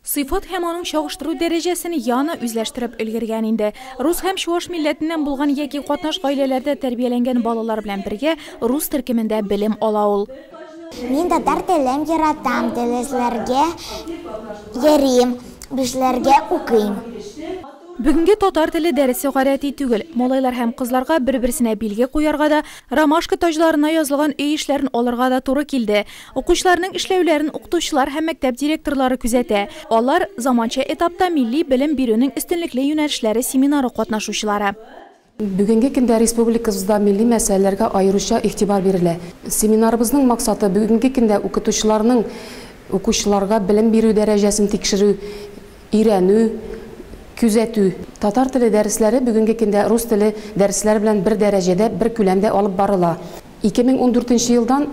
Сыйфат һәм аның чагыштыру дәрәҗәсен Яна үзләштереп өлгергән инде. Рус һәм чуаш милләтеннән булган яки катнаш гаиләләрдә тәрбияләнгән балалар белән бергә рус төркемендә белем ала ул. Мин татар телен яратам, дәресләргә йөрим, бишләргә укыйм. Бүгенге татар теле дәресе гадәти түгел. Малайлар һәм кызларга бер-берсенә билге куярга да, ромашка таҗларына язылган өй эшләрен алырга да туры килде. Укучыларның эшләүләрен укытучылар һәм мәктәп директорлары күзәтә. Алар, заманча этапта милли белем бирүнең өстенлекле юнәлешләре семинары катнашучылары. Бүгенге көндә республикабызда милли мәсьәләләргә аеруча игътибар бирелә. Семинарыбызның максаты, бүгенге көндә укытучыларның укучыларга белем бирү дәрәҗәсен тикшерү, өйрәнү, күзәтү. Татар теле дәресләре бүгенге көндә рус теле дәресләре белән бер дәрәҗәдә, бер күләмдә алып барыла. Ике мең ундүртенче елдан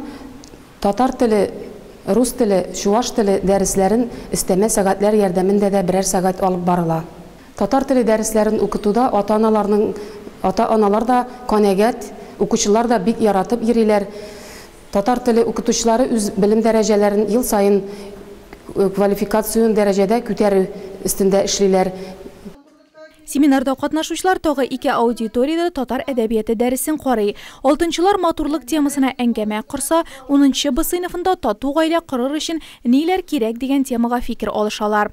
татар теле, рус теле, чуваш теле дәресләрен өстәмә сәгатьләр ярдәмендә дә берәр сәгать алып барыла. Татар теле дәресләрен укытуда ата-аналарның ата-аналар да канәгать, укучылар да бик яратып йөриләр. Татар теле укытучылары үз белем дәрәҗәләрен ел саен квалификацион дәрәҗәдә күтәрү өстендә эшлиләр. Семинарда катнашучылар тагы ике аудиториядә татар әдәбияте дәресен карый. Алтынчылар матурлык темасына әңгәмә корса, унынчы Б сыйныфында тату гаилә корыр өчен ниләр кирәк дигән темага фикер алышалар.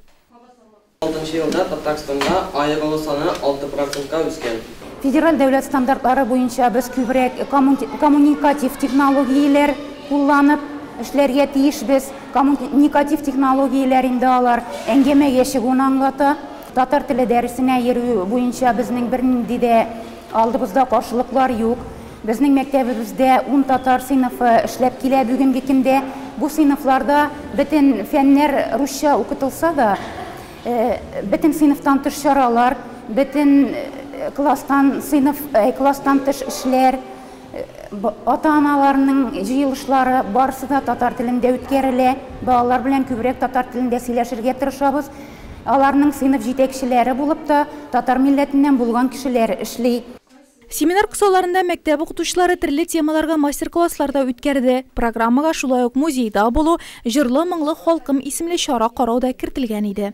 Алтынчы елда Татарстанда аерылу саны алты процентка үскән. Федераль дәүләт стандартлары буенча без күбрәк коммуникатив технологияләр кулланып эшләргә тиешбез. Коммуникатив технологияләр инде алар әңгәмәгә чыгуны аңлата. Татар теле дәресенә йөрү буенча безнең бернинди дә алдыбызда каршылыклар юк. Безнең мәктәбебездә ун татар сыйныфы эшләп килә бүгенге көндә. Бу сыйныфларда бөтен фәннәр русча укытылса да, бөтен сыйныфтан тыш чаралар, бөтен класстан сыйныф, класстан тыш эшләр, Ата-аналарның җыелышлары барысы да татар телендә үткәрелә. Балалар белән күбрәк татар телендә сөйләшергә тырышабыз. Аларның сыйныф җитәкчеләре булып та татар милләтеннән булган кешеләр эшли. Семинар кысаларында мәктәп укытучылары төрле темаларга мастер-класслар да үткәрде. Программага шулай ук Музейда булу, Җырлы-моңлы халкым исемле чара карау да кертелгән иде.